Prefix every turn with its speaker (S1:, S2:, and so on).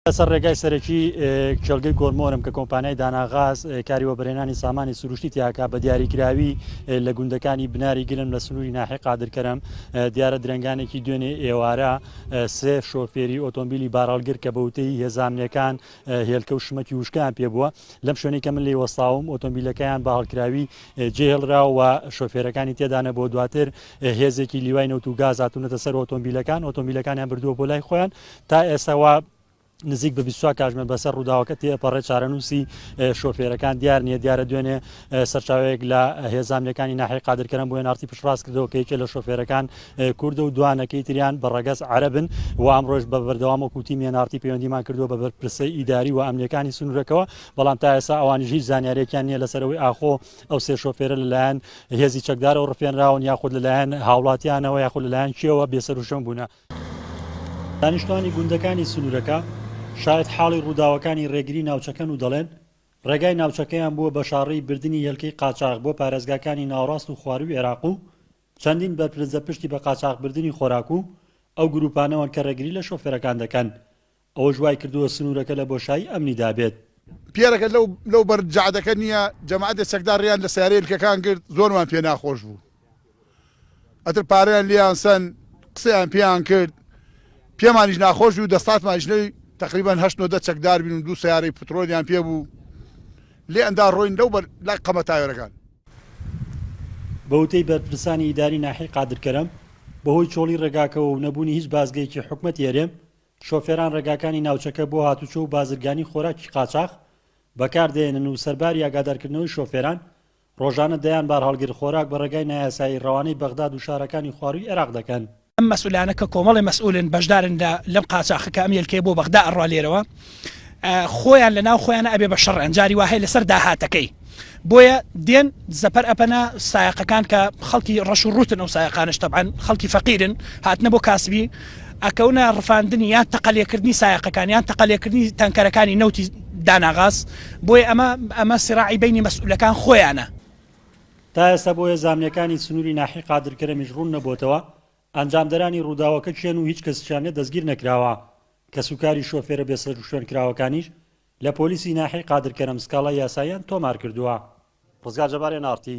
S1: لەسەر ڕێگای سەرەکی کێڵگەی کۆرمۆرم کە کۆمپانیای داناغاز کاری وەبرێنانی سامانی سروشتی تیاکە بە دیاریکراوی لە گوندەکانی بناری گرم لە سنووری ناحی قادرکەرم دیارە درنگانێکی دوێنێ ئێوارە سێ شۆفێری ئۆتۆمبیلی باراڵگر کە بەوتەی هێزامنەکان هێلکە و شمەکی وشکان پێ بووە لەم شوێنی کە من لی وەساوم ئۆتۆمبیلەکەیان بە هەڵکراوی جێهێڵراوە شۆفێرەکانی تێدانە بۆ دواتر هێزێکی لیوای نەوت و گاز هاتوونەتە سەر ئۆتۆمبیلەکان ئۆتۆمبیلەکانیان بردووە بۆ لای خۆیان تا ئێستا وا نزیک بە 24 کاتژمێر بەسەر ڕووداوەکە تێپەڕێ چارەنووسی شۆفێرەکان دیار نییە دیارە دوێنێ سەرچاوەیەک لە هێزانەکانی ناحی قادرکەرم بۆ نارتی پشڕاست کردەوە کە یەکێ لە شۆفێرەکان کوردە و دوانەکەی تریان بە ڕەگەز عربن و ئەمڕۆژ بە بەردەوام و کوتی مێنارتی پەیوەندیمان کردووە بە بەرپرسە ئیداری و ئەمنیەکانی سنوورەکەەوە بەڵام تا ئێسا ئەوانی هیچ زانیارێکیان نییە لەسەرەوەی ئاخۆ ئەو سێ شۆفێرە لەلایەن هێزی چەکدارەوە ڕفێنراون یاخود لەلایەن هاوڵاتیانەوە یاخود لەلایەن کێوە بێسەروشەم بوونە دانیشتوانی گوندەکانی سنوورەکە شاید حاڵی ڕووداوەکانی ڕێگری ناوچەکەن و دەڵێن ڕێگای ناوچەکەیان بووە بە شاڕی بردننی هێلکەی قاچاق بۆ پارێزگاکانی ناوڕاست و خواروی عێراق و چەندین بەرپرزە پشتی بە قاچاقبردننی خۆراک و ئەو گروپانەوەن کە ڕێگری لە شۆفێرەکان دەکەن ئەوەش وایکردووە سنوورەکە لە بۆشایی ئەمنیدا بێت. پیرەکە لەو
S2: لەو بەر جەعدەکە نییە، جەماعەتێ چەکدار ڕێیان لە سەیارەی لکەکان گرت، زۆرمان پێ ناخۆش بوو. ئەتر پارەیان لێیان سەند، قسەیان پێیان کرد. پێمانیش ناخۆش بوو، دەستاتمانیش نەوی، تەقریبەن هەشت نۆدە چەکدار بوین و دوو سەیارەی پترۆلیان پێ بوو. لێیان دا ڕۆین لەو بەر لای قەمە تاوێرەکان. بە
S1: وتەی بەرپرسانی ئیداری ناحیەی قادرکەرەم، بەهۆی چۆڵی ڕێگاکەوە و نەبوونی هیچ بازگەیەکی حکومەتی هەرێم، شۆفێران ڕێگاکانی ناوچەکە بۆ هاتوچۆ و بازرگانی خۆراکی قاچاخ بەکاردەهێنن و سەرباری ئاگادارکردنەوەی شۆفێران، ڕۆژانە دەیان بارهەڵگر خۆراک بە ڕێگای نایاسایی ڕەوانەی بەغداد و شارەکانی خوارووی عێراق دەکەن. ئەم مەسئولانە کە
S3: کۆمەڵێ مەسئولن بەشدارن لە لەم قاچاخە کە ئەم هێلکەیە بۆ بەغدا ئەڕوا لێرەوە خۆیان لەناو خۆیانا ئەبێ بە شەڕیان جاری واهەیە لەسەر داهاتەکەی. بۆیە دێن زەپەر ئەپەنە سایەقەکان کە خەڵکی ڕەش و ڕوتن ئەو سایەقانش تەبان خەڵکی فەقیرن هاتنە بۆ کاسبی ئەکەونە ڕفاندنی یان تەقلێکردنی سایەقەکانیان تەقلێکردنی تەنکەرەکانی نەوتی داناغاز بۆیە ئەمە ئەمە سراعی بینی مەسئولەکان خۆیانە تا
S1: ئێستا بۆیە زامنەکانی سنوری ناحی قادر کەرەمیش ڕون نەبۆتەوە ئەنجامدەرانی ڕوداوەکە کێن و هیچ کەسیشیان لێ دەستگیر نەکراوە کەسوکاری شۆفێرە بێ سەروشوێن کراوەکانیش لە پۆلیسی ناحیەی قادر کەرەم سکاڵای یاساییان تۆمارکردووە. ڕزگار جەبار ئێن ئاڕ تی.